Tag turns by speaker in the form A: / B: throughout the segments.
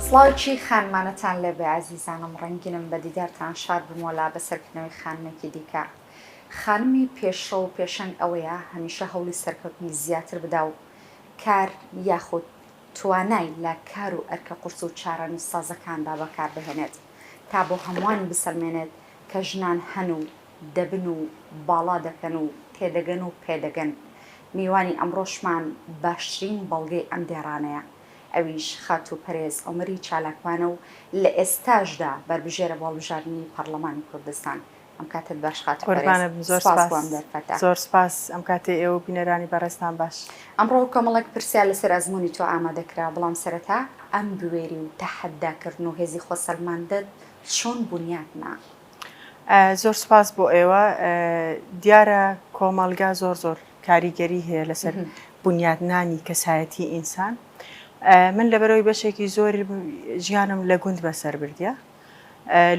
A: سڵاوی خانمانەتان لێبێ ئازیزانم ڕەنگینم بە دیدارتان شاد بم وەلا بە سەرکردنەوەی خانمێکی دیکە خانمی پێشڕەو و پێشەنگ ئەوەیە هەمیشە هەوڵی سەرکەوتنی زیاتر بدا و کار یاخود توانای لە کار و ئەرکە قورس و چارەنووسسازەکاندا بەکار بهێنێت تا بۆ هەمووان بسەلمێنێت کە ژنان هەن و دەبن و باڵا دەکەن و تێدەگەن و پێدەگەن. میوانی ئەمڕۆشمان باشترین بەڵگەی ئەم دێڕانەیە، ئەویش خاتوو پەرێز عومەری چالاکوانە و لە ئێستاشدا بەربژێرە بۆ هەڵبژاردنی پەڕڵەمانی کوردستان. ئەم کاتت باش خاتو بەرێز سوپاس بۆ ئەم
B: دەرفەتە. زۆر سوپاس ئەم کاتەی ئێوە و بینەرانی بەڕێزتان باش. ئەمڕۆ کۆمەڵێک
A: پرسیار لەسەر ئەزموونی تۆ ئامادە کرا، بەڵام سەرەتا ئەم بوێری و تەحەدا کردن و هێزی خۆسەلماندت چۆن بونیات نا؟
B: زۆر سوپاس بۆ ئێوە، دیارە کۆمەڵگا زۆر زۆر کاریگەری هەیە لەسەر بونیات نانی کەسایەتی ئینسان، من لەبەرئەوەی بەشێکی زۆر ژیانم لە گوند بەسەر بردیە،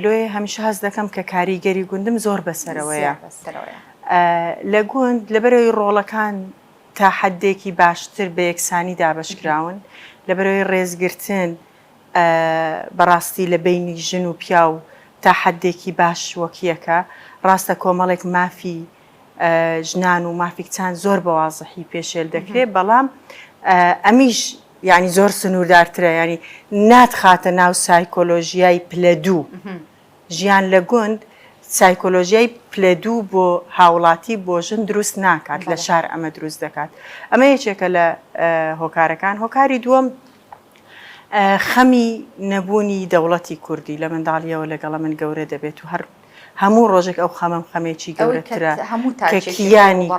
B: لۆیێ هەمیشە هەست دەکەم کە کاریگەری گوندم زۆر بەسەرەوەیە لە گوند لەبەرەوەی ڕۆڵەکان تا حدێکی باشتر بە یەکسانی دابشکراون لەبەرەوەی ڕێزگرتن بەڕاستی لە بینی ژن و پیاو تا حدێکی باش وەکیەکە ڕاستە کۆمەڵێک مافی ژنان و مافی کچان زۆر بە وازحی پێشێل دەکرێت بەڵام ئەمیش یعنی زۆر سنووردارترە ینی ناتخاتە ناو سایکۆلۆژیای پلە دوو ژیان لە گوند سایکۆلۆژیای پلە دوو بۆ هاوڵاتی بۆ ژن دروست ناکات لە شار ئەمە دروست دەکات ئەمە یەکێکە لە هۆکارەکان هۆکاری دووەم خەمی نەبوونی دەوڵەتی کوردی لە منداڵیەوە لەگەڵە من گەورە دەبێت و هەر هەموو ڕۆژێک ئەو خەمەم خەمێکی گەورەترە کە کیانی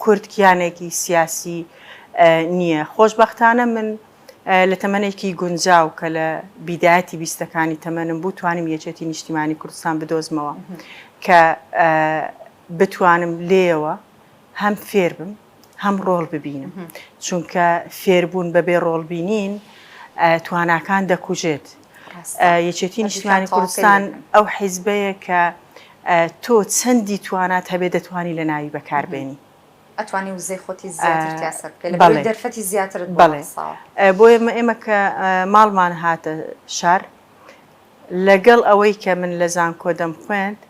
B: کورد کیانێکی سیاسی نییە خۆشببختانە من لە تەمەێکی گونجاو کە لە بیداەتی بیستەکانی تەمەنم بوو توانم یەکێتی نیشتیمانی کوردستان بدۆزمەوە کە بتوانم لێەوە هەم فێر بم هەم ڕۆڵ ببینم چونکە فێربوون بە بێ ڕۆڵ بینین تواناکان دەکوژێت یەکێتی نیشتمانی کوردستان ئەو حیزبەیە کە تۆ چەندی توانات هەبێ دەتوانی لە ناوی بەکاربێنی ئەتوانی
A: وزەی خۆتی زیاتر تاسە بکەیت لە دەرفەتی زیاتر بڵێ بۆیە ئێمە
B: کە ماڵمان هاتە شار لەگەڵ ئەوەی کە من لە زانکۆ دەم خوێند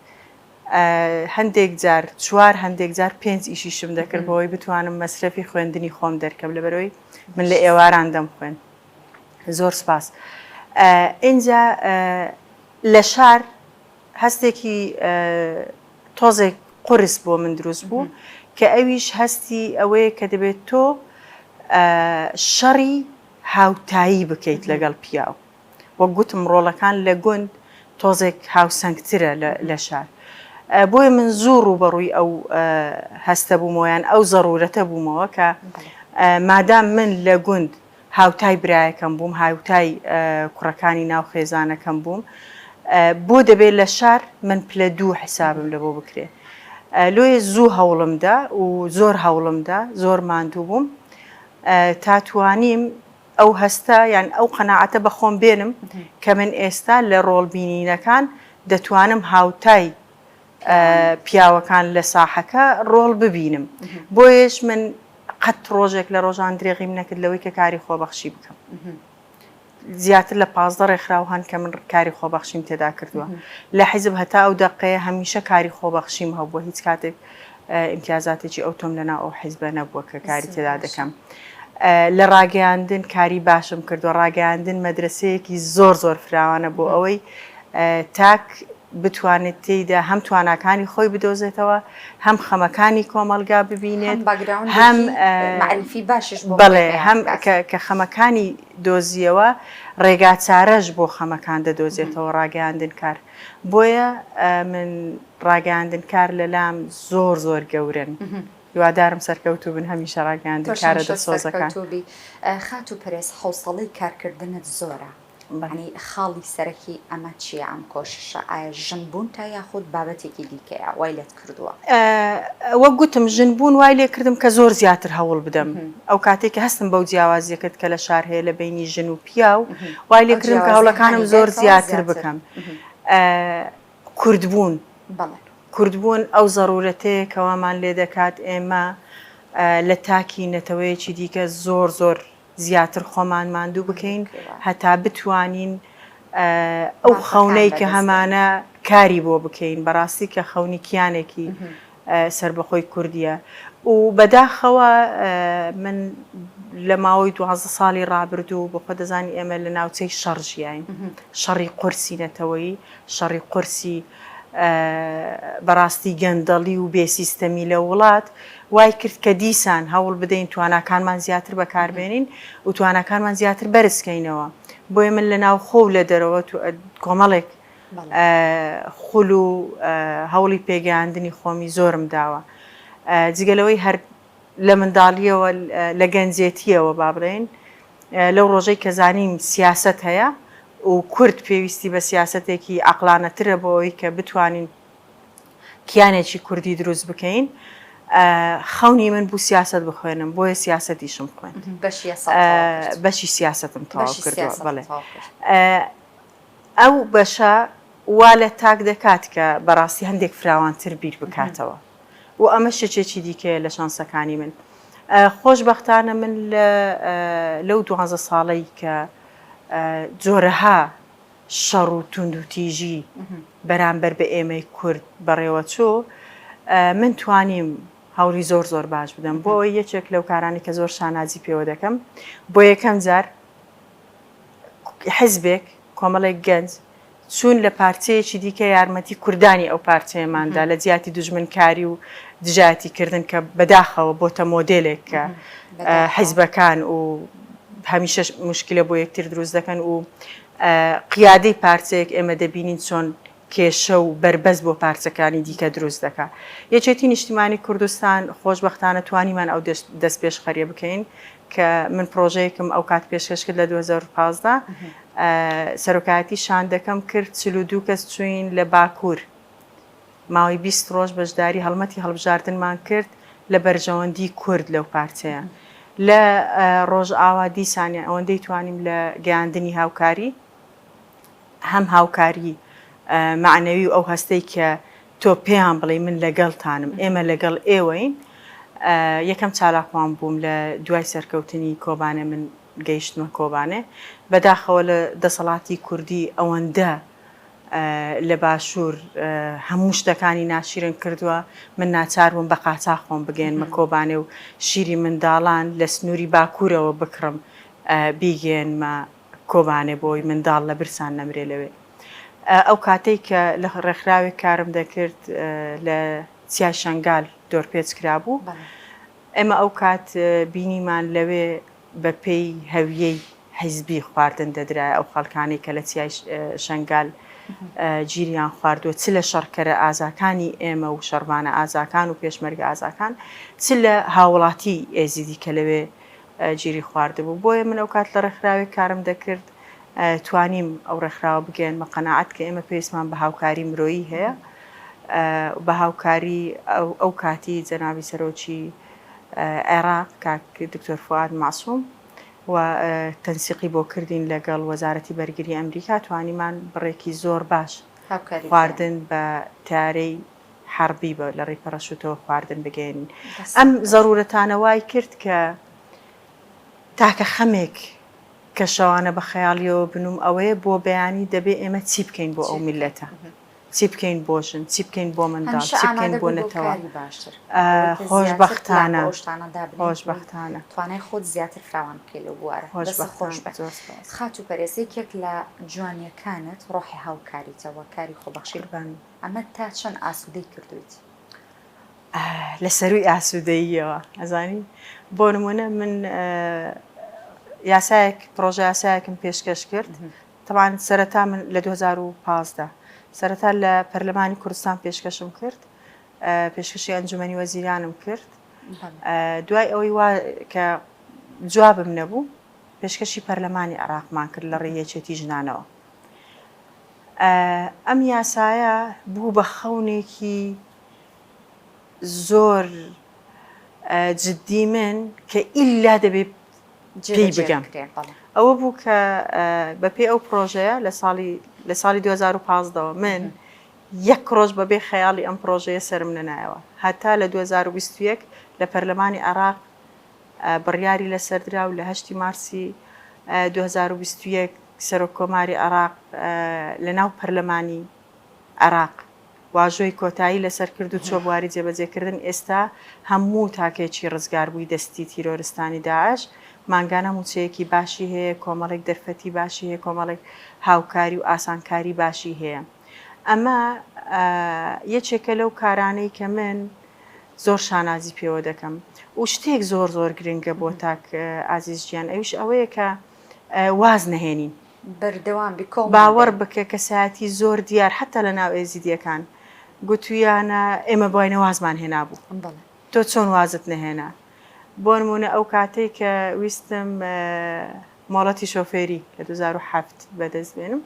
B: هەندێک جار چوار هەندێک جار پێنج ئیشیشم دەکرد بۆی بتوانم مەسرەفی خوێندنی خۆم دەرکەم لەبەرەوەی من لە ئێواران دەم خوێن زۆر سپاس ئینجا لە شار هەستێکی تۆزێک قرس بۆ من دروست بوو کە ئەویش هەستی ئەوەیە کە دەبێت تۆ شەڕی هاوتایی بکەیت لەگەڵ پیاو وەک گوتم ڕۆڵەکان لە گوند تۆزێک هاوسەنگترە لە شار بۆیە من زوو ڕووبەڕووی ئەو هەستە بوومەوە یان ئەو زەڕورەتە بوومەوە کە مادام من لە گوند هاوتای برایەکەم بووم هاوتای کوڕەکانی ناو خێزانەکەم بووم بۆ دەبێت لە شار من پلە دوو حسابم لە بۆ بکرێت لۆی زوو هەوڵمدا و زۆر هەوڵمدا زۆر ماندوو بووم تاتوانیم ئەو هەستە یان ئەو قەناعەتە بە خۆم بێنم کە من ئێستا لە ڕۆڵ بینینەکان دەتوانم هاوتای پیاوەکان لە ساحەکە ڕۆڵ ببینم بۆیەش من قەت ڕۆژێک لە ڕۆژان درێغیم نەکرد لەوەی کە کاری خۆبەخشی بکەم. زیاتر لە پازدە ڕێکخراو هەن کە من کاری خۆبەخشیم تێدا کردووە لە حیزب هەتا ئەو دەقەیە هەمیشە کاری خۆبەخشیم هەبووە هیچ کاتێک ئیمتیازاتێکی ئەوتۆم لەناو ئەو حیزبە نەبووە کە کاری تێدا دەکەم. لە ڕاگەیاندن کاری باشم کردووە، ڕاگەیاندن مەدرەسەیەکی زۆر زۆر فراوانە بۆ ئەوەی تاک بتوانێت تێیدا هەم تواناکانی خۆی بدۆزێتەوە، هەم خەمەکانی کۆمەڵگا ببینێت، هەم مەعریفی
A: باشیش بۆ خۆی هەیە. هەم
B: کە خەمەکانی دۆزییەوە، ڕێگاچارەش بۆ خەمەکان دەدۆزێتەوە، ڕاگەیاندنکار. بۆیە من ڕاگەیاندن کار لەلام زۆر زۆر گەورن هیوادارم سەرکەوتو بن هەمیشە ڕاگەیاندن کارە دڵسۆزەکان خات
A: و پرێس حوسەڵی کارکردنت زۆرە بەنی خاڵی سەرەکی ئەمە چیە ئەم کۆششە ئایا ژن بوون تا یاخود بابەتێکی دیکەیە وای لێت کردووە. وەک
B: گوتم ژن بوون وای لێ کردم کە زۆر زیاتر هەوڵ بدەم، ئەو کاتەی کە هەستم بەو جیاوازییە کرد کە لە شار هەیە لە بەینی ژن و پیاو، وای لێ کردم کە هەوڵەکانم زۆر زیاتر بکەم. کورد بوون، کورد بوون ئەو زەروورەتەیە کە وامان لێ دەکات ئێمە لە تاکی نەتەوەیەکی دیکە زۆر زۆر، زیاتر خۆمان ماندوو بکەین هەتا بتوانین ئەو خەونەی کە هەمانە کاری بۆ بکەین بەڕاستی کە خەونی کیانێکی سربەخۆی کوردیە و بەداخەوە من لە ماوەی دوازە ساڵی ڕابردوو بۆ خۆ دەزانی ئێمە لە ناوچەی شەڕژیین شەڕی قرسی نەتەوەی شەڕی قورسی بەڕاستی گەندەڵی و بێ سیستەمی لە وڵات وای کرد کە دیسان هەوڵ بدەین تواناکانمان زیاتر بەکاربێنین و تواناکانمان زیاتر بەرزکەینەوە بۆیە من لە ناوخۆ و لە دەرەوە کۆمەڵێک خول و هەوڵی پێگەیاندنی خۆمی زۆرم داوە جگەلەوەی هەر لە منداڵییەوە، لە گەنجێتییەوە با بڵێین، لەو ڕۆژەی کە زانیم سیاسەت هەیە و کورد پێویستی بە سیاسەتێکی عەقڵانەترە بۆ ئەوەی کە بتوانین کیانێکی کوردی دروست بکەین، خەونی من بوو سیاسەت بخوێنم، بۆیە سیاسەتیشم خوێند. بەشی یاساتەوە کرد. بەشی سیاسەتم تەواو کردووە، بەڵێ. بەشی سیاسەتت تەواو کرد. ئەو بەشە وا لە تاک دەکات کە بەڕاستی هەندێک فراوانتر بیر بکاتەوە و ئەمە شچێکی دیکەیە لە شانسەکانی من. خۆشبەختانە من لە لەو دوانزە ساڵەی کە جۆرەها شەڕ و توندوتیژی بەرامبەر بە ئێمەی کورد بەڕێوە چوو، من توانیم هەوڵی زۆر زۆر باش بدەم. بۆ ئەوەی یەکێک لەو کارانەی کە زۆر شانازی پێوە دەکەم، بۆ یەکەم جار، حزبێک، کۆمەڵێک گەنج چوون لە پارچەیەکی دیکە یارمەتی کوردانی ئەو پارچەیەمان دا لە جیاتی دوژمنکاری و دژایەتی کردن کە بەداخەوە بۆتە مۆدێلێک کە حزبەکان و هەمیشەش مشکلە بۆ یەکتر دروست دەکەن و قیادەی پارچەیەک ئێمە دەبینین چۆن کێشە و بەربەست بۆ پارچەکانی دیکە دروست دەکا. یەکێتی نیشتیمانی کوردستان، خۆشبەختانە توانیمان ئەو دەستپێشخەریە بکەین کە من پرۆژەیەکم ئەو کات پێشکەش کرد لە دوو هەزار و پازدە سەرۆکایەتی شاندەکەم کرد چل و دوو کەس چووین لە باکوور ماوەی بیست ڕۆژ بەشداری هەڵمەتی هەڵبژاردنمان کرد لە بەرژەوەندی کورد لەو پارچەیە لە ڕۆژئاوا دیسانیان ئەوەندەی توانیم لە گەیاندنی هاوکاری هەم هاوکاری مەعنەوی و ئەو هەستەی کە تۆ پێیان بڵێی من لەگەڵتانم، ئێمە لەگەڵ ئێوەین. یەکەم چالاکوان بووم لە دوای سەرکەوتنی کۆبانێ من گەیشتمە کۆبانێ. بەداخەوە لە دەسەڵاتی کوردی ئەوەندە لە باشوور هەموو شتەکانی ناشیرن کردووە، من ناچار بووم بە قاچاخ خۆم بگەیەنمە کۆبانێ و شیری منداڵان لە سنووری باکوورەوە بکڕم بیگەیەنمە. کۆبانێ بۆی منداڵ لە برسان نەمرێ لەوێ ئەو کاتەی کە لە ڕێکخراوێک کارم دەکرد لە چیای شەنگال دۆرپێچ کرابوو ئێمە ئەو کات بینیمان لەوێ بە پێی هەویەی حیزبی خواردن دەدرای ئەو خەڵکانی کە لە چیای شەنگال گیریان خواردووە چ لە شەڕکەرە ئازاکانی ئێمە و شەربانە ئازاکان و پێشمەرگە ئازاکان چ لە هاوڵاتی ئێزیدی کە لەوێ گیری خواردبوو بۆیە من ئەوکات لە ڕێکخراوێک کارم دەکرد توانیم ئەو ڕێکخراوە بگەیەنمە قەناعەت کە ئێمە پێویستمان بە هاوکاری مرۆیی هەیە بە هاوکاری ئەو کاتی جەنابی سەرۆکی عێراق کاک دکتۆر فواد مەعسوم و تەنسیقی بۆ کردین لەگەڵ وەزارەتی بەرگری ئەمریکا توانیمان بڕێکی زۆر باش خواردن بە تارەی حەڕبی بە لە ڕێی پەڕەشوتەوە خواردن بگەیەنین. ئەم زەڕوورەتانە وای کرد کە تاکە خەمێک کە شەوانە بە خەیاڵیەوە بنووم ئەوەیە بۆ بەیانی دەبێ ئێمە چی بکەین بۆ ئەو میللەتە؟ چی بکەین بۆ ژن؟ چی بکەین بۆ منداڵ؟ چی بکەین بۆ نەتەوە؟ خۆشبەختانە خۆشبەختانە توانای خۆت
A: زیاتر فراوان بکەی لەو بوارە دەستت خۆش بێت خاتوو پەرێز یەکێک لە جوانییەکانت ڕۆحی هاوکاریتە و کاری خۆبەخشی ئەمە تا چەند ئاسودەی کردویت؟
B: لە سەروی ئاسوودەییەوە ئەزانی بۆ نمونە من یاسایەک پرۆژە یاسایەکم پێشکەش کرد تەوان سەرەتا من لە 2015 سەرەتا لە پەرلەمانی کوردستان پێشکەشم کرد پێشکەشی ئەنجومی وەزیرانم کرد دوای ئەوەی وا کە جوابم نەبوو پێشکەشی پەرلەمانی عراقمان کرد لە ڕێیەچێتی ژنانەوە ئەم یاسایە بوو بە خەونێکی زۆر جددی من کە ئیلا دەبێ جێی بگەم ئەوە بوو کە بەپێ ئەو پرۆژەیە لە ساڵی لە ساڵی 2015ەوە من یەک ڕۆژ بەبێ خەیاڵی ئەم پرۆژەیە سرم نەنایەوە هەتا لە 2021 لە پەرلەمانی عراق بڕیاری لەسەردرا و لە هەشتی مارسی دوو هەزار و بیست و یەک سەرۆک کۆماری عێراق لە ناو پەرلەمانی عێراق واژۆی کۆتایی لەسەر کرد و چووە بواری جێبەجێکردن ئێستا هەموو تاکێکی ڕزگاربووی دەستی تیرۆرستانی داعش مانگانە مووچەیەکی باشی هەیە کۆمەڵێک دەرفەتی باشی هەیە کۆمەڵێک هاوکاری و ئاسانکاری باشی هەیە ئەمە یەکێکە لەو کارانەی کە من زۆر شانازی پێوە دەکەم و شتێک زۆر زۆر گرنگە بۆ تاک ئازیز گیان ئەویش ئەوەیە کە واز نەهێنین بەردەوام بی
A: کۆڵمان بێ. باوەڕ بکە
B: کەسایەتی زۆر دیار حەتا لە ناو ئێزیدییەکان گوتوویانە ئێمە بواینە وازمان هێنابوو بەڵێ. تۆ چۆن وازت نەهێنا؟ بۆ نموونە ئەو کاتەی کە ویستم مۆڵەتی شۆفێری لە دوو هەزار و حەفت بەدەست بێنم،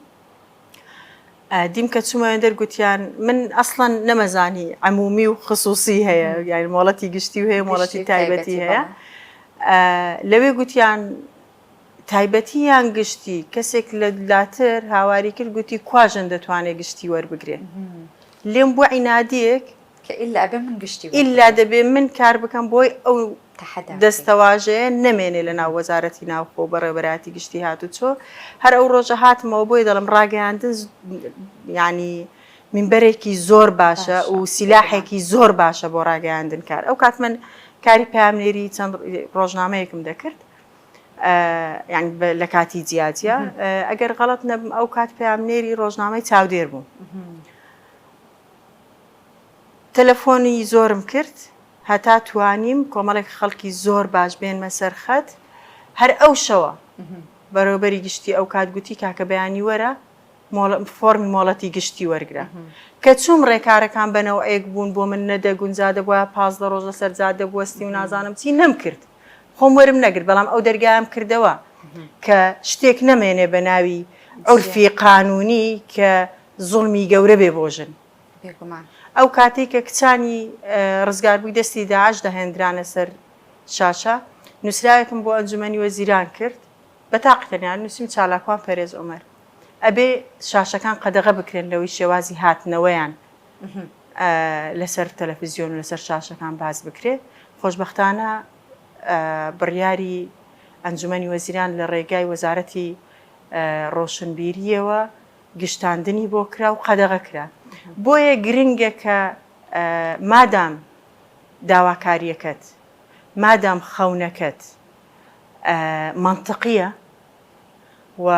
B: دیم کە چوومەوێ دەر گوتیان من ئەسڵەن نەمەزانی عمومی و خصوصی هەیە یاری مۆڵەتی گشتی و هەیە مۆڵەتی تایبەتی هەیە لەوێ گوتیان تایبەتی یان گشتی کەسێک لە لاتر هاواری کرد گوتی کواژن دەتوانێت گشتی وەربگرێت لێم بۆ عینادیەک کە ئیلا ئەبێ
A: من گشتی بۆ ئیلا بکڕم. دەبێ من
B: کار بکەم بۆی ئەو تەحەدا بکەین. دەستەواژەیە نەمێنێ لە ناو وەزارەتی ناوخۆ و بەڕێوەبەرایەتی گشتی هاتوچۆ. هەر ئەو ڕۆژە هاتمەوە بۆی دەڵێم ڕاگەیاندن ز یانی مینبەرێکی زۆر باشە باشە، و بێگومان. سیلاحێکی زۆر باشە بۆ ڕاگەیاندن کار. ئەو کات من کاری پەیامنێری چەند ڕۆژنامەیەکم دەکرد ئە یانی بە لە کاتی جیا جیا. ئەگەر غەڵەت نەبم ئەو کات پەیامنێری ڕۆژنامەی چاودێر بووم. تەلەفۆنی زۆرم کرد هەتا توانیم کۆمەڵێک خەڵکی زۆر باش بێنمە سەر خەت، هەر ئەو شەوە بەڕێوەبەری گشتی ئەوکات گوتی کاکە بەیانی وەرە فۆڕمی مۆڵەتی گشتی وەرگرە، کە چووم ڕێکارەکان بە نەوعێک بوون بۆ من نەدەگونجا دەبوایە پازدە ڕۆژ لەسەر جادە بوەستی و نازانم چی نەمکرد خۆم وەرم نەگرت بەڵام ئەو دەرگایەم کردەوە کە شتێک نەمێنێ بە ناوی عورفی قانونی کە زوڵمی گەورە بێ بۆ ژن. بێگومان. ئەو کاتەی کە کچانی ڕزگاربووی دەستی داعش دەهێندرانە سەر شاشە، نووسراوێکم بۆ ئەنجومەنی وەزیران کرد، بە تاقی تەنیا نووسیم چالاکوان پەرێز عومەر. ئەبێ شاشەکان قەدەغە بکرێن لەوەی شێوازی هاتنەوەیان لەسەر تەلەفزیۆن و لەسەر شاشەکان باس بکرێ. خۆشبەختانە بڕیاری ئەنجومەنی وەزیران لە ڕێگای وەزارەتی ڕۆشنبیریەوە، گشتاندنی بۆ کرا و قەدەغە کرا. بۆیە گرنگە کە مادام داواکارییەکەت، مادام خەونەکەت مەنتقییە و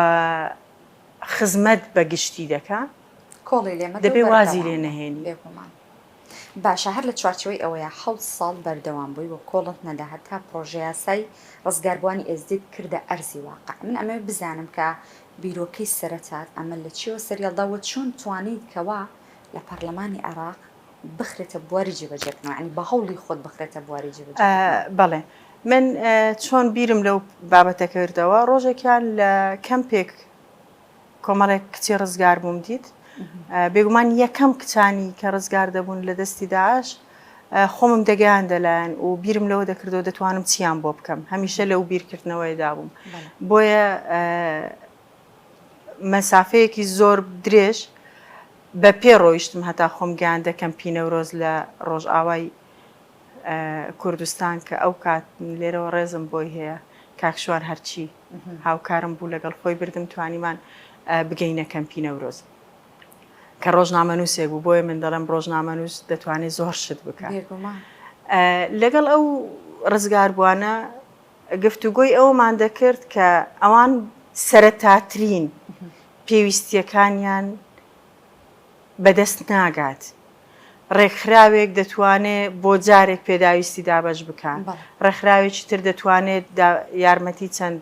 B: خزمەت بە گشتی دەکا، کۆڵی لێ مەدە و بەردەوام بە، دەبێ وازی لێ نەهێنی. بێگومان.
A: باشە هەر لە چوارچێوەی ئەوەیە حەوت ساڵ بەردەوام بووی و کۆڵت نەدا هەتا پڕۆژەیاسای ڕزگاربووانی ئێزدیت کردە ئەرزی واقع. من ئەمەوێ بزانم کە بیرۆکەی سەرەتات ئەمە لە چیەوە سەریهەڵدا وە چۆن توانیت کەوا لە پەڕلەمانی عێڕاق بخرێتە بواری جێبەجێکردنەوە یانی بە هەوڵی خۆت بخرێتە بواری جێبەجێکردنەوە؟ ئا بەڵێ من
B: چۆن بیرم لەو بابەتە کردەوە ڕۆژێکیان لە کەمپێک کۆمەڵێک کچی ڕزگار بووم دیت بێگومان یەکەم کچانی کە ڕزگار دەبوون لە دەستی داعش خۆمم دەگەیاندە لایان و بیرم لەوە دەکردەوە دەتوانم چیان بۆ بکەم هەمیشە لەو بیرکردنەوەیدا بووم بۆیە مەسافەیەکی زۆر درێژ بە پێ ڕۆیشتم هەتا خۆم گیان دەکەم پینەورۆز لە ڕۆژئاوای کوردستان کە ئەو کات لێرەوە ڕێزم بۆی هەیە کاکشوان هەرچی هاوکارم بوو لەگەڵ خۆی بردم توانیمان بگەینە کەمپینەورۆز. کە ڕۆژنامەنووسێک بوو بۆیە من دەڵێم ڕۆژنامەنووس دەتوانێت زۆر شت بکە لەگەڵ ئەو ڕزگاربووانە گفتوگۆی ئەومان دەکرد کە ئەوان سەرەتاترین پێویستیەکانیان بەدەست ناگات. ڕێکخراوێک دەتوانێت بۆ جارێک پێداویستی دابش بکات ڕێکخراوێکی تر دەتوانێت یارمەتی چەند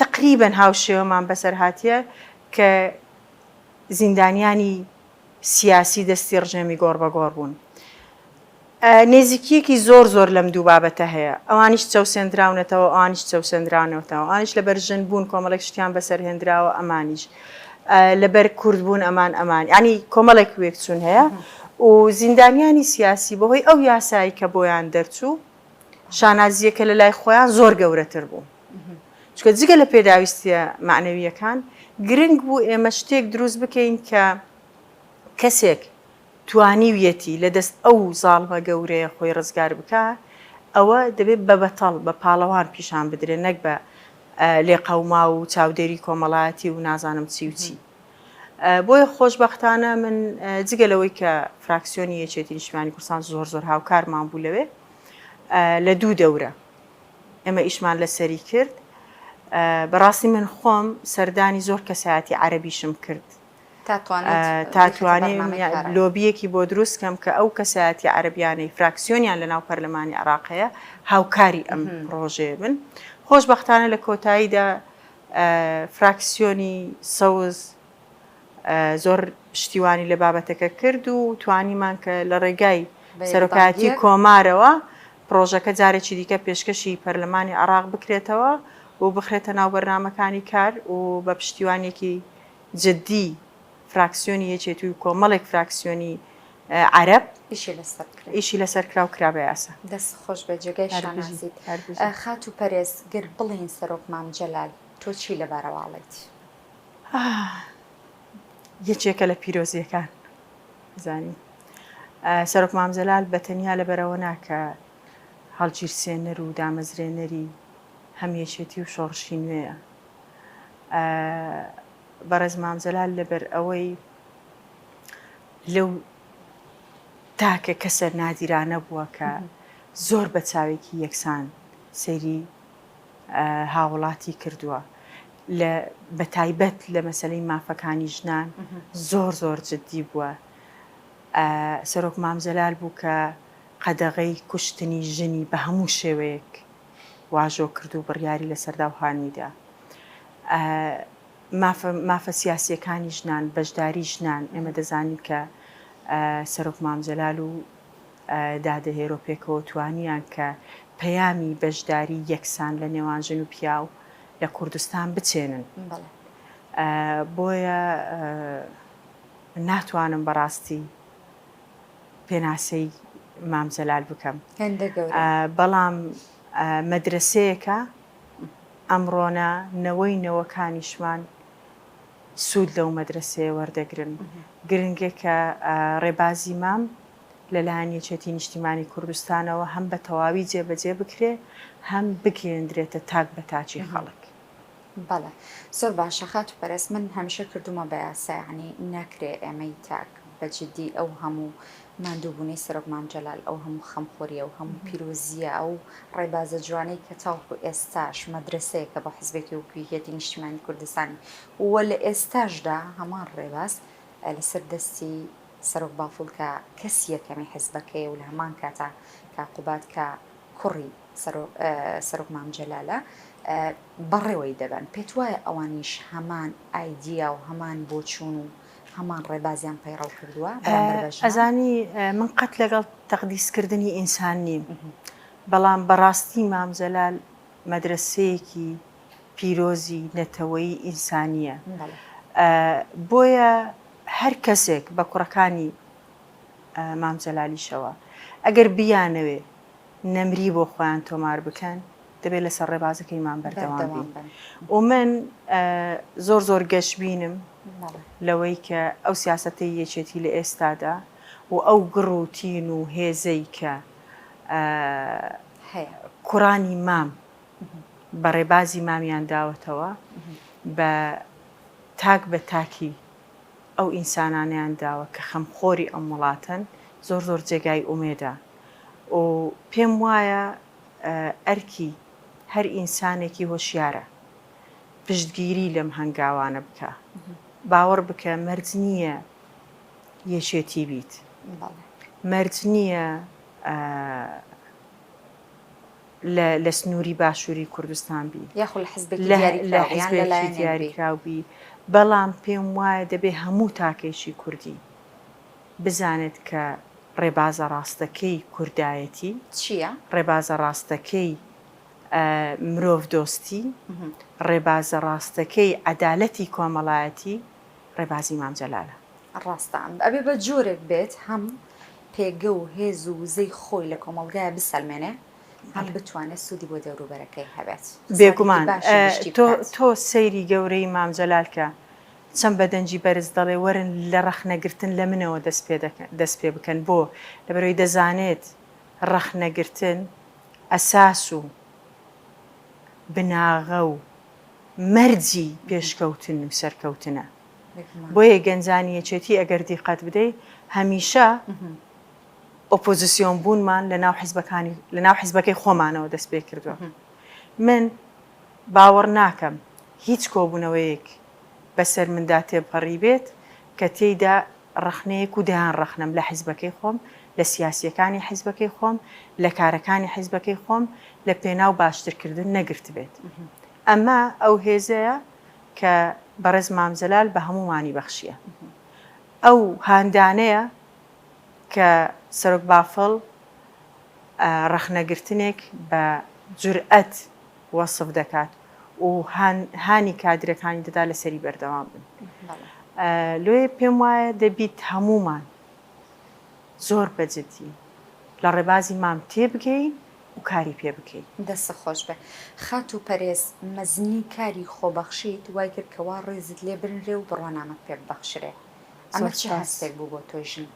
B: تەقریبەن هاوشێوەمان بەسەرهاتیە کە زیندانیانی سیاسی دەستی ڕژێمی گۆڕبەگۆڕ بوون. نێزیکیەکی زۆر زۆر لەم دوو بابەتە هەیە. ئەوانیش چەوسێندراونەتەوە ئەوانیش چەوسێندراونەتەوە. ئەوانیش لەبەر ژن بوون کۆمەڵێک شتیان بەسەرهێندراوە ئەمانیش لەبەر کورد بوون ئەمان ئەمان یانی کۆمەڵێک وێکچوون هەیە و زیندانیانی سیاسی بەهۆی ئەو یاسایی کە بۆیان دەرچوو شانازیەکە لەلای خۆیان زۆر گەورەتر بوو. چونکە جگە لە پێداویستییە مەعنەوییەکان، گرنگ بوو ئێمە شتێک دروست بکەین کە کەسێک توانیویەتی لە دەست ئەو زاڵمە گەورەیە خۆی ڕزگار بکا، ئەوە دەبێ بە بەتەڵ، بە پاڵەوان پیشان بدرێ نەک بە لێقەوماو و چاودێری کۆمەڵایەتی و نازانم چی و چی. بۆیە خۆشبەختانە من جگە لەوەی کە فراکسیۆنی یەکێتی نیشتمانی کوردستان زۆر زۆر هاوکارمان بوو لەوێ لە دوو دەورە، ئێمە ئیشمان لەسەری کرد بەڕاستی من خۆم سەردانی زۆر کەسایەتی عەربیشم کرد تاتوانێ لۆبیەکی بۆ دروست کەم کە ئەو کەسایەتی عەربیانەی فراکسیۆنیان لە ناو پەرلەمانی عراقەیە هاوکاری ئەم ڕۆژێ بن خۆشببختانە لە کۆتاییدا فراکسیۆنی سەوز زۆر پشتیوانی لە بابەتەکە کرد و توانیمان کە لە ڕێگای سەرۆکایەتی کۆمارەوە پرۆژەکە جارێکی دیکە پێشکەشی پەرلەمانی عراق بکرێتەوە و بخرێتە ناو بەرنمەکانی کار و بە پشتیوانێکی جددی فراکسیۆنی یەکێتی و کۆمەڵێک فراکسیۆنی عرب ئیشی لە سەرکراو کرا بە یاسا دەست خۆش بە جێگای
A: شانازیت خات و پەرێز گر بڵین سەرۆک مام جەلال تۆ چی لەبارەواڵێت
B: یەکێکە لە پیرۆزییەکان زانی سەرۆک مام جەلال بە تەنیا لەبەرەوە ناکە هەڵگیرسێنەر و دامەزرێنەری هەمیەشێتی و شۆڕشی نوێیە بەڕێز مام جەلال لەبەر ئەوەی لەو تاکە کەسە نادیرانە بووە کە زۆر بە چاوێکی یەکسان سەیری هاوڵاتی کردووە لە بەتایبەت لە مەسلەی مافەکانی ژنان زۆر زۆر جددی بووە سەرۆک مامزەلال بوو کە قەدەغەی کوشتنی ژنی بە هەموو شێوەیەک واژۆ کرد و بڕیاری لە سەرداوهانیدا مافە سیاسیەکانی ژنان بەشداری ژنان ئێمە دەزانین کە سەرۆک مامزەلال و دا دەهێرو پێکەوە توانیان کە پەیامی بەشداری یەکسان لە نێوان ژن و پیاو لە کوردستان بچێنن بۆیە ناتوانم بەڕاستی پێناسەی مام جەلال بکەم بەڵام مەدرسەیەەکە ئەمڕۆنە نەوەی نەوەکانیشمان سوود لەو مەدرەسەیە وەردەگرن. گرنگە کە ڕێبازی مام لەلایەن یەکێتی نیشتیمانی کوردستانەوە هەم بە تەواوی جێبەجێ بکرێ هەم بگەیەندرێتە تاک بە تاکی خەڵک. بەڵێ
A: زۆر باشە خاتوو پەرست من هەمیشە کردوومە بە یاسا یانی ناکرێ ئێمەی تاک بە جدی ئەو هەموو ماندووبوونەی سەرۆک مام جەلال، ئەو هەموو خەمخۆرییە و هەموو پیرۆزییە، ئەو ڕێبازە جوانەی کە تاوەکو ئێستاش مەدرەسەیەکە بۆ حزبێتی وەکو یەکێتی نیشتیمانی کوردستان و لە ئێستاشدا هەمان ڕێباز لەسەر دەستی سەرۆک بافڵ کە کەسی یەکەمی حزبەکەیە و لە هەمان کاتا کاک قوباد کە کوڕی سەرۆک مام جەلالە بەڕێوەی دەبەن. پێتوایە ئەوانیش هەمان ئایدیا و هەمان بۆچوون و هەمان ڕێبازیان پەیڕەو کردووە بەرامبەر بە ژنان؟ ئەزانی
B: من قەت لەگەڵ تەقدیسکردنی ئینسان نیم بەڵام بەڕاستی مام جەلال مەدرەسەیەکی پیرۆزی نەتەوەیی ئینسانییە بۆیە هەر کەسێک بە کوڕەکانی مام جەلالیشەوە ئەگەر بیانەوێ نەمری بۆ خۆیان تۆمار بکەن دەبێت لەسەر ڕێبازەکەی مام بەردەوام بن و من زۆر زۆر گەشببینم لەوەی کە ئەو سیاسەتەی یەکێتی لە ئێستادا و ئەو گڕ و تین و هێزەی کە کوڕانی مام بە ڕێبازی مامیان داوەتەوە بە تاک بە تاکی ئەو ئینسانانیان داوە کە خەمخۆری ئەم وڵاتەن زۆر زۆر جێگای ئومێدا و پێم وایە ئەرکی هەر ئینسانێکی هۆشیارە پشتگیری لەم هەنگاوانە بکە باوەڕ بکە مەرج نییە یەکێتی بیت مەرج نییە لە سنووری باشووری کوردستان بی دیاریکراو بی بەڵام پێم وایە دەبێ هەموو تاکێکی کوردی بزانێت کە ڕێبازە ڕاستەکەی کوردایەتی چییە؟
A: ڕێبازە ڕاستەکەی
B: مرۆڤدۆستی، ڕێبازە ڕاستەکەی عەدالەتی کۆمەڵایەتی ڕێبازی مام جەلالە. ڕاستە
A: ئەبێ بە جۆرێک بێت هەم پێگە و هێز و وزەی خۆی لە کۆمەڵگایە بسەلمێنێ هەم بتوانێ سوودی بۆ دەوروبەرەکەی هەبێت. بێگومان
B: تۆ سەیری گەورەی مام جەلال کە چەند بە دەنگی بەرز دەڵێ وەرن لە ڕەخنەگرتن لە منەوە دەست پێ بکەن بۆ؟ لەبەرەوەی دەزانێت ڕەخنەگرتن، ئەساس و بناغە و مەرجی پێشکەوتن و سەرکەوتنە. بۆیە گەنجانی یەکێتی ئەگەر دیقەت بدەی هەمیشە ئۆپۆزسیۆن بوونمان لە ناو حزبەکانی لە ناو حزبەکەی خۆمانەوە دەست پێ کردووە. من باوەڕ ناکەم هیچ کۆبوونەوەیەک بەسەر مندا تێبپەڕیبێت کە تێیدا ڕەخنەیەک و دەیان ڕەخنەم لە حزبەکەی خۆم، لە سیاسییەکانی حزبەکەی خۆم، لە کارەکانی حزبەکەی خۆم لە پێناو باشترکردن نەگرتبێت. ئەمە ئەو هێزەیە کە بەڕێز مام جەلال بە هەموومانی بەخشییە. ئەو هاندانەیە کە سەرۆک بافڵ ڕەخنەگرتنێک بە جورئەت، وەسف دەکات و هانی کادرەکانی دەدات لەسەری بەردەوام بن لۆیێ پێم وایە دەبیت هەموومان زۆر بەجدی لە ڕێبازی مام تێبگەین و کاری پێ بکەین. دەستت خۆش بێ
A: خاتوو پەرێز، مەزنی کاری خۆبەخشیت وای کرد کە وا ڕێزت لێ بنرێ و بڕوانامەت پێ ببەخشرێ، ئەمە چ هەستێک بوو بۆ تۆی ژن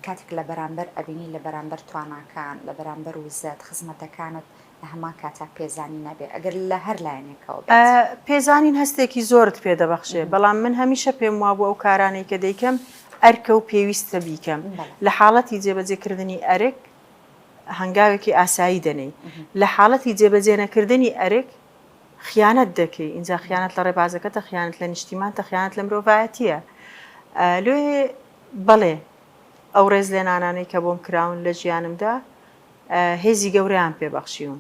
A: کاتێک لە بەرامبەر ئەبینی لە بەرامبەر تواناکان، لە بەرامبەر وزەت، خزمەتەکانت لە هەمان کاتا پێزانین نەبێت ئەگەر لە هەر لایەنێکەوە بێت؟ پێزانین
B: هەستێکی زۆرت پێ دەبەخشێ، بەڵام من هەمیشە پێم وابوو ئەو کارانەی کە دەیکەم ئەرکە و پێویستە بیکەم. لە حاڵەتی جێبەجێکردنی ئەرک هەنگاوێکی ئاسایی دەنێی، لە حاڵەتی جێبەجێنەکردنی ئەرک خیانەت دەکەی، ئینجا خیانەت لە ڕێبازەکەتە، خیانەت لە نیشتیمانتە، خیانەت لە مرۆڤایەتییە. لێ بەڵێ، ئەو ڕێزلێنانانەی کە بۆم کراون لە ژیانمدا هێزی گەورەیان پێ بەخشیوم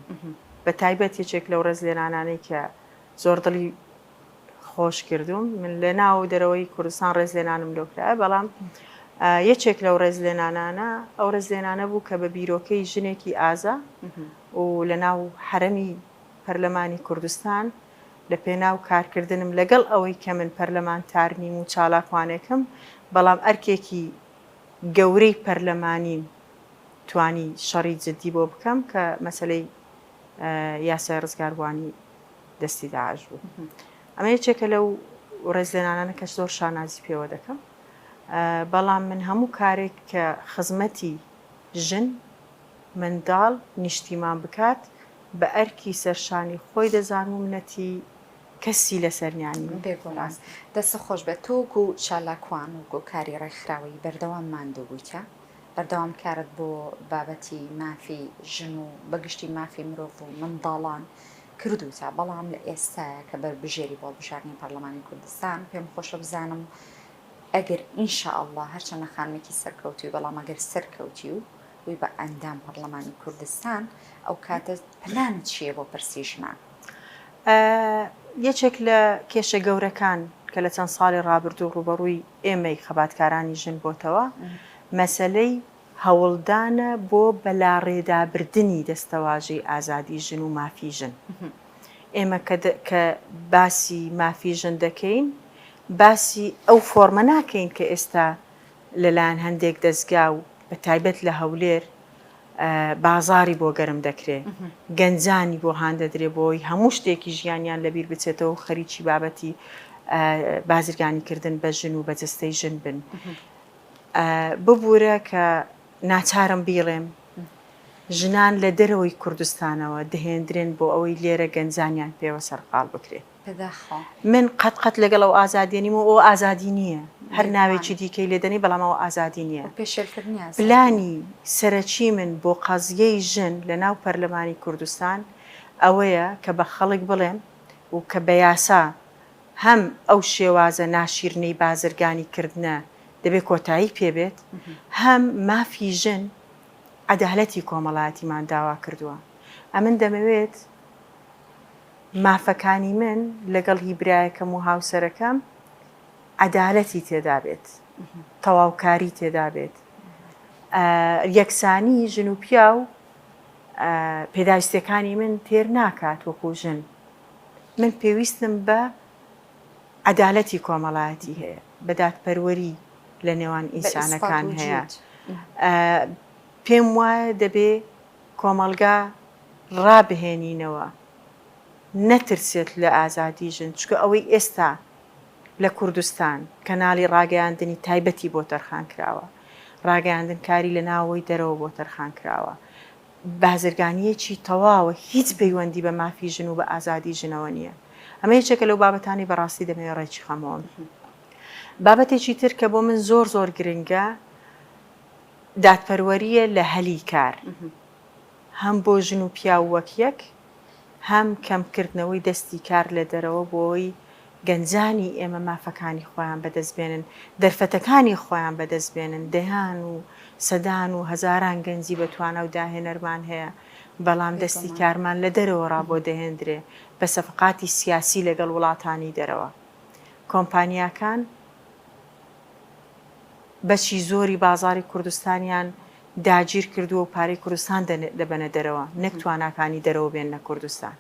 B: بە تایبەت یەکێک لەو ڕێزلێنانانەی کە زۆر دڵی خۆش کردوم من لە ناو و دەرەوەی کوردستان ڕێزلێنانم لۆکرا بەڵام یەکێک لەو ڕێزلێنانانە ئەو ڕێزلێنانە بوو کە بە بیرۆکەی ژنێکی ئازا و لە ناو حرەمی پەرلەمانی کوردستان لە پێناو کارکردنم لەگەڵ ئەوەی کە من پەرلەمانتار نیم و چالاکوانێکم بەڵام ئەرکێکی گەورەی پەرلەمانیم توانی شەڕی جدی بۆ بکەم کە مەسەلەی یاسای ڕزگاروانی دەستی داعش بوو ئەمە یەکێکە لەو ڕێزلێنانانە کە زۆر شانازی پێوە دەکەم بەڵام من هەموو کارێک کە خزمەتی ژن منداڵ نیشتیمان بکات بە ئەرکی سەرشانی خۆی دەزان و منەتی کەسی لەسەرنیانی بێگوڵاس
A: دەست خۆش بێت تۆک و چالاکوان و گۆکاری ڕێکخراوەی بەردەوام ماندوو بوویتە بەردەوامکارت بۆ بابەتی مافی ژن و بەگشتی مافی مرۆڤ و منداڵان کردووتە، بەڵام لە ئێستایا کە بەربژێری بۆ هەڵبژاردنی پەرلەمانی کوردستان، پێم خۆشە بزانم ئەگەر ان شاء اللە هەرچەندە خانمێکی سەرکەوتووی بەڵام ئەگەر سەرکەوتی و بووی بە ئەندام پەرلەمانی کوردستان ئەو کاتە پلانت چییە بۆ پرسی ژنان؟
B: یەکێک لە کێشە گەورەکان کە لە چەند ساڵی ڕابردوو ڕووبەڕووی ئێمەی خەباتکارانی ژن بۆتەوە مەسەلەی هەوڵدانە بۆ بەلاڕێدابردنی دەستەواژەی ئازادی ژن و مافی ژن. ئێمە کە باسی مافی ژن دەکەین باسی ئەو فۆرمە ناکەین کە ئێستا لەلایەن هەندێک دەزگا و بە تایبەت لە هەولێر بازاڕی بۆ گەرم دەکرێ، گەنجانی بۆ هاندەدرێ بۆی هەموو شتێکی ژیانیان لەبیر بچێتەوە و خەریکی بابەتی بازرگانیکردن بە ژن و بە جستەی ژن بن. ببوورە کە ناچارم بیڵێم ژنان لە دەرەوەی کوردستانەوە دەهێندرێن بۆ ئەوەی لێرە گەنجانیان پێوە سەرقاڵ بکرێت. من قەت قەت لەگەڵ ئەو ئازادیە نیم و ئەوە ئازادی نییە، هەر ناوێکی دیکەی لێ دەنێی بەڵام ئەوە ئازادی نییە. پلانی سەرەکی من بۆ قەزیەی ژن لە ناو پەرلەمانی کوردستان ئەوەیە کە بە خەڵک بڵێم و کە بە یاسا هەم ئەو شێوازە ناشیرنەی بازرگانی کردنە دەبێ کۆتایی پێ بێت هەم مافی ژن عەدالەتی کۆمەڵایەتیمان داوا کردووە ئەمن دەمەوێت مافەکانی من لەگەڵ هی برایەکەم و هاوسەرەکەم عەدالەتی تێدا بێت، تەواوکاری تێدا بێت، یەکسانی ژن و پیاو پێداویستیەکانی من تێر ناکات وەکو ژن، من پێویستم بە عەدالەتی کۆمەڵایەتی هەیە، بە دادپەروەری لە نێوان ئینسانەکان هەیە، پێم وایە دەبێ، کۆمەڵگا ڕابهێنینەوە نەترسێت لە ئازادی ژن، چونکە ئەوەی ئێستا لە کوردستان کەناڵی ڕاگەیاندنی تایبەتی بۆ تەرخان کراوە، ڕاگەیاندنکاری لە ناوەوەی دەرەوە بۆ تەرخان کراوە، بازرگانییەکی تەواوە هیچ پەیوەندی بە مافی ژن و بە ئازادی ژنەوە نییە. ئەمە یەکێکە لەو بابەتانەی بەڕاستی دەمەوێت ڕێکیخەمەوە. بابەتێکی تر کە بۆ من زۆر زۆر گرنگە، دادپەروەرییە لە هەلی کار، هەم بۆ ژن و پیاو وەک یەک، هەم کەمکردنەوەی دەستی کار لە دەرەوە بۆی گەنجانی ئێمە مافەکانی خۆیان بەدەست بێنن، دەرفەتەکانی خۆیان بەدەست بێنن، دەیان و سەدان و هەزاران گەنجی بە توانا و داهێنەرمان هەیە، بەڵام دەستی کارمان لە دەرەوە ڕا بۆ دەهێندرێ بە سەفقاتی سیاسی لەگەڵ وڵاتانی دەرەوە. کۆمپانیاکان بەشی زۆری بازاڕی کوردستانیان داگیر کردووە و پارەی کوردستان دەبەنە دەرەوە نەک تواناکانی دەرەوە بێننە کوردستان.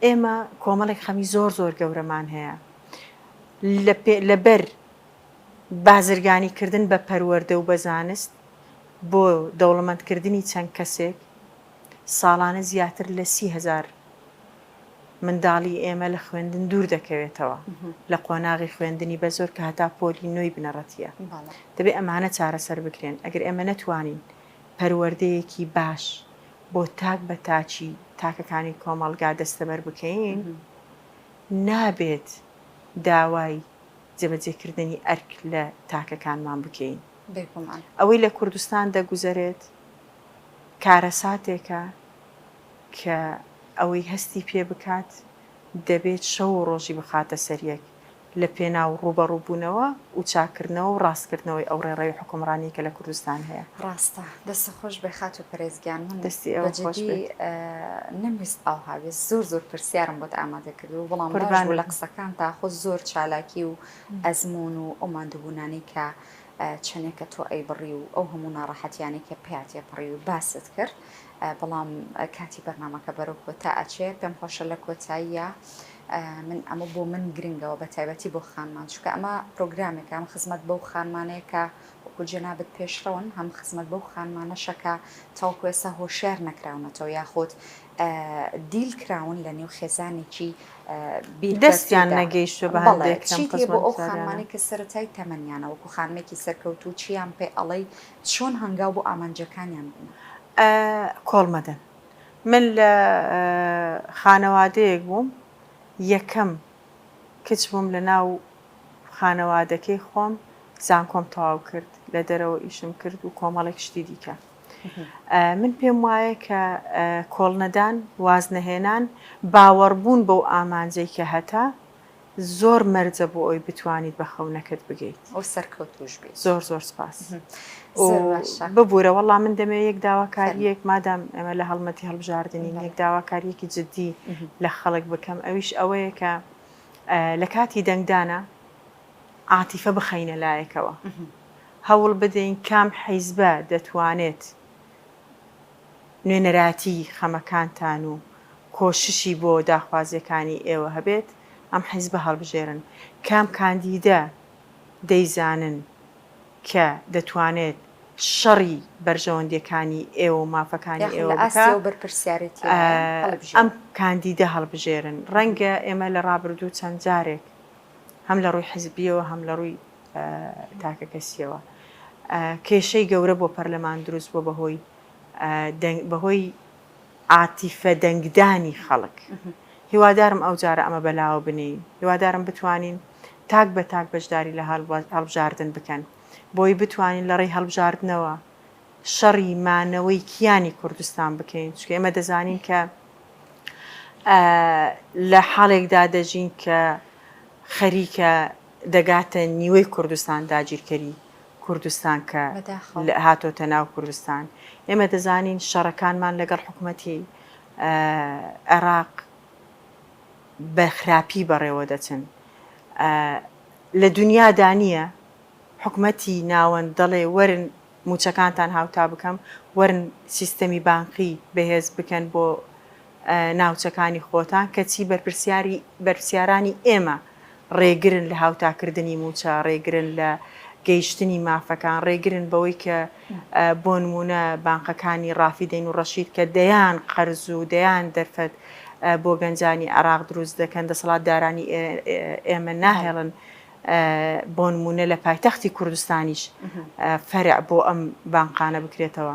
B: ئێمە کۆمەڵێک خەمی زۆر زۆر گەورەمان هەیە لەبەر بازرگانی کردن بە پەروەردە و بە زانست بۆ دەوڵەمەندکردنی چەند کەسێک، ساڵانە زیاتر لە سی هەزار منداڵی ئێمە لە خوێندن دوور دەکەوێتەوە لە قۆناغی خوێندنی بە زۆر کە هەتا پۆلی نۆی بنەڕەتیە دەبێت ئەمانە چارەسەر بکرێن ئەگەر ئێمە نەتوانین پەروەردەیەکی باش بۆ تاک بە تاچی تاکەکانی کۆمەڵگا دەستەبەر بکەین نابێت داوای جێبەجێکردنی ئەرک لە تاکەکانمان بکەین ئەوەی لە کوردستان دەگوزەرێت کارەساتێکە کە ئەوەی هەستی پێ بکات دەبێت شەو و ڕۆژی بخاتە سەر یەک لە پێناو ڕووبەڕووبوونەوە و چاککردنەوە و ڕاستکردنەوەی ئەو ڕێڕەوی حوکمڕانی کە لە کوردستان هەیە. ڕاستە. دەستت
A: خۆش بێ خاتوو پەرێز گیان. من دەستی ئێوە بە خۆش جدی بێت.
B: نەمویست
A: ئاوها بێت. زۆر زۆر پرسیارم بۆت ئامادە کردبوو بەڵام باش قوربانت بوو لە بم. قسەکانتا خۆ زۆر چالاکی و ئەزموون و ئەو ماندووبوونانەی کە چەنێ کە تۆ ئەیبڕی و ئەو هەموو ناڕەحەتیانەی کە پێیا تێپەڕی و باست کرد بەڵام کاتی بەرنامەکە بەرەو کۆتا ئەچێ پێم خۆشە لە کۆتاییە من ئەمە بۆ من گرنگەوە بە تایبەتی بۆ خانمان چکە ئەمە پرۆگرامێک ئەم خزمەت بەو خانمانەیە کە وەکو جەنابەت پێشڕەون هەم خزمەت بەو خانمانەشەکە تاوکوێسە هۆشیار نەکراونەتەوە یاخود دیل کراون لە نێو خێزانێکی بیر
B: دەستیان نەگەیشتوە بە هەندێک چی تێ بۆ ئەو خانمانەی
A: کە سەرەتای تەمەنیانە وەکو خانمێکی سەرکەوت و چیان پێ ئەڵەی چۆن هەنگاو بۆ ئامانجەکانیان بن کۆڵمەدەن
B: من لە خانەوادەیەک بووم یەکەم کچ بووم لە ناو خانەوادەکەی خۆم زانکۆم تەواو کرد لە دەرەوە ئیشم کرد و کۆمەڵێک شتی دیکە من پێم وایە کە کۆڵنەدان، وازنەهێنان، باوەڕبوون بەو ئامانجەی کە هەتە، زۆر مەرجە بۆ ئەوی بتوانیت بە خەونەکەت بگەیت. و سەرکەوتووش
A: بیت. زۆر زۆر سپاس.
B: زۆر باشە. ببورە وەڵا من دەمێ یەک داواکارییەک مادام ئێمە لە هەڵمەتی هەڵبژاردنین یەک داواکارییەکی جدی لە خەڵک بکەم ئەویش ئەوەیە کە لە کاتی دەنگدانا عاتیفە بخەینە لایەکەوە هەوڵ بدەین کام حیزبە دەتوانێت نوێنەراتی خەمەکانتان و کۆششی بۆ داخوازیەکانی ئێوە هەبێت ئەم حیزبە هەڵبژێرن، کام کاندیدە دەیزانن کە دەتوانێت شەڕی بەرژەوەندیەکانی ئێوە و مافەکانی ئێوە بکا ئەم کاندیدە هەڵبژێرن، ڕەنگە ئێمە لە ڕابردوو چەند جارێک هەم لە ڕووی حیزبیەوە هەم لە ڕووی تاکەکەسییەوە کێشەی گەورە بۆ پەرلەمان دروست بووە بەهۆی بەهۆی عاتیفە دەنگدانی خەڵک هیوادارم ئەو جارە ئەمە بەلاوە بنین هیوادارم بتوانین تاک بە تاک بەشداری لە هەڵبژاردن بکەن بۆی بتوانین لە ڕێی هەڵبژاردنەوە شەڕی مانەوەی کیانی کوردستان بکەین چکە ئێمە دەزانین کە لە حاڵێکدا دەژین کە خەریکە دەگاتە نیوەی کوردستان داگیرکەری کوردستان کە هاتۆتە ناو کوردستان ئێمە دەزانین شەڕەکانمان لەگەڵ حکوومەتی عێراق بە خراپی بەڕێوە دەچن لە دنیادا نییە حکومەتی ناوەند دەڵێ وەرن موچەکانتان هاوتا بکەم وەرن سیستەمی بانقی بەهێز بکەن بۆ ناوچەکانی خۆتان کەچی بەرپرسیاری بەرپسیارانی ئێمە ڕێگرن لە هاوتاکردنی مووچە ڕێگرن لە گەیشتنی مافەکان ڕێگرن بەوەی کە بۆ نمونە بانقەکانی ڕافیدەین و ڕەشید کە دەیان قەرز و دەیان دەرفەت بۆ گەنجانی عراق دروست دەکەن دەسەڵات دارانی ئێمە ناهێڵن بۆ نمونە لە پایتەختی کوردستانیش فەرع بۆ ئەم بانقانە بکرێتەوە.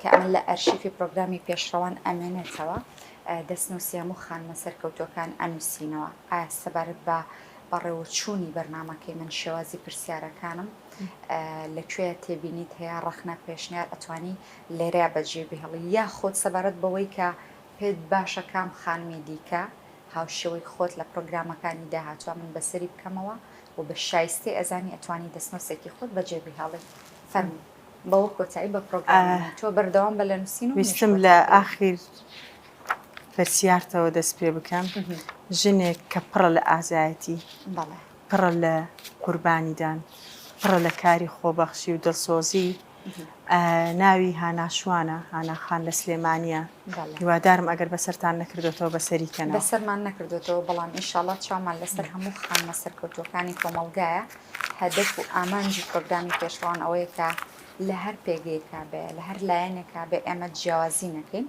A: کە ئەمە لە ئەرشیفی پرۆگرامی پێشڕەوان ئەمێنێتەوە دەستنووسی هەموو خانمە سەرکەوتوەکان ئەنووسینەوە ئایا سەبارەت بە بەڕێوەچوونی بەرنمەکەی من شێوازی پرسیارەکانم لەکوێ تێبینیت هەیە ڕخنە پێشنیار ئەتوانی لێرە بەجێ بهڵی یا خۆت سەبارەت بەوەی کە پێت باشە کام خانمی دیکە هاوشێوەی خۆت لە پرۆگرامەکانی داهاتوە من بەسەری بکەمەوە و بە شایستی ئەزانی ئەتوانی دەستنووسێکی خۆت بەجێ بهڵی فەرمو بەوە کۆتایی بە پرۆگرامەکەی تۆ بەردەوام بە لە نووسین و ویستم مێشکت لە بکەوێت. ئاخیر
B: پرسیارتەوە دەست پێ بکەم ژنێک کە پڕە لە ئازایەتی بەڵێ پڕە لە قوربانیدان پڕە لە کاری خۆبەخشی و دڵسۆزی ئا، ناوی هانا شوانە هانا خان لە سلێمانیە بەڵێ. هیوادارم ئەگەر بەسەرتان نەکردۆتەوە بەسەری کەنەوە. بەسەرمان نەکردۆتەوە
A: بەڵام ئینشاڵا چاومان لەسەر هەموو خانمە سەرکەوتووەکانی کۆمەڵگایە، هەدەف و ئامانجی پرۆگرامی پێشڕەوان ئەوەیە کە لە هەر پێگەیەکا بێ، لە هەر لایەنێکا بێ ئێمە جیاوازی نەکەین،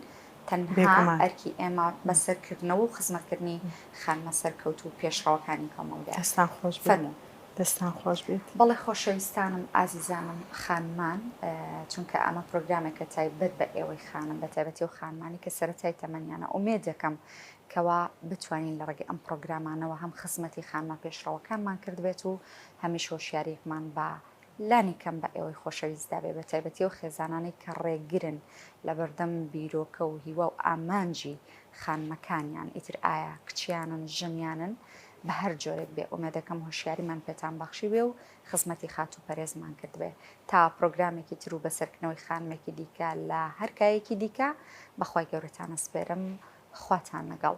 A: تەنها بێگومان. ئەرکی ئێمە بەسەرکردنەوە و خزمەتکردنی خانمە سەرکەوتوو و پێشڕەوەکانی کۆمەڵگایە. دەستان خۆش بێ. فەرموو.
B: دەستان خۆش بێت. بەڵێ خۆشەویستانم
A: ئازیزانم خانمان چونکە ئەمە پرۆگرامێکە تایبەت بە ئێوەی خانم بە تایبەتی و خانمانی کە سەرەتای تەمەنیانە ئومێدەکەم کەوا بتوانین لە ڕێگەی ئەم پرۆگرامانەوە هەم خزمەتی خانمە پێشڕەوەکانمان کردبێت و هەمیش هۆشیاریەکمان بە لانی کەم بە ئێوەی خۆشەویستدا بێ بە تایبەتی و خێزانانی کە ڕێگرن لە بەردەم بیرۆکە و هیوا و ئامانجی خانمەکانیان ئیتر ئایا کچیانن ژنیانن بە هەر جۆرێک بێ ئومێدەکەم هۆشیاریمان پێتان بەخشیبێ و خزمەتی خاتوو پەرێزمان کردبێ تا پرۆگرامێکی تر و بە سەرکنەوەی خانمێکی دیکە لە هەر کایەکی دیکە بە خوای گەورەتان ئەسپێرم خواتان لەگەڵ.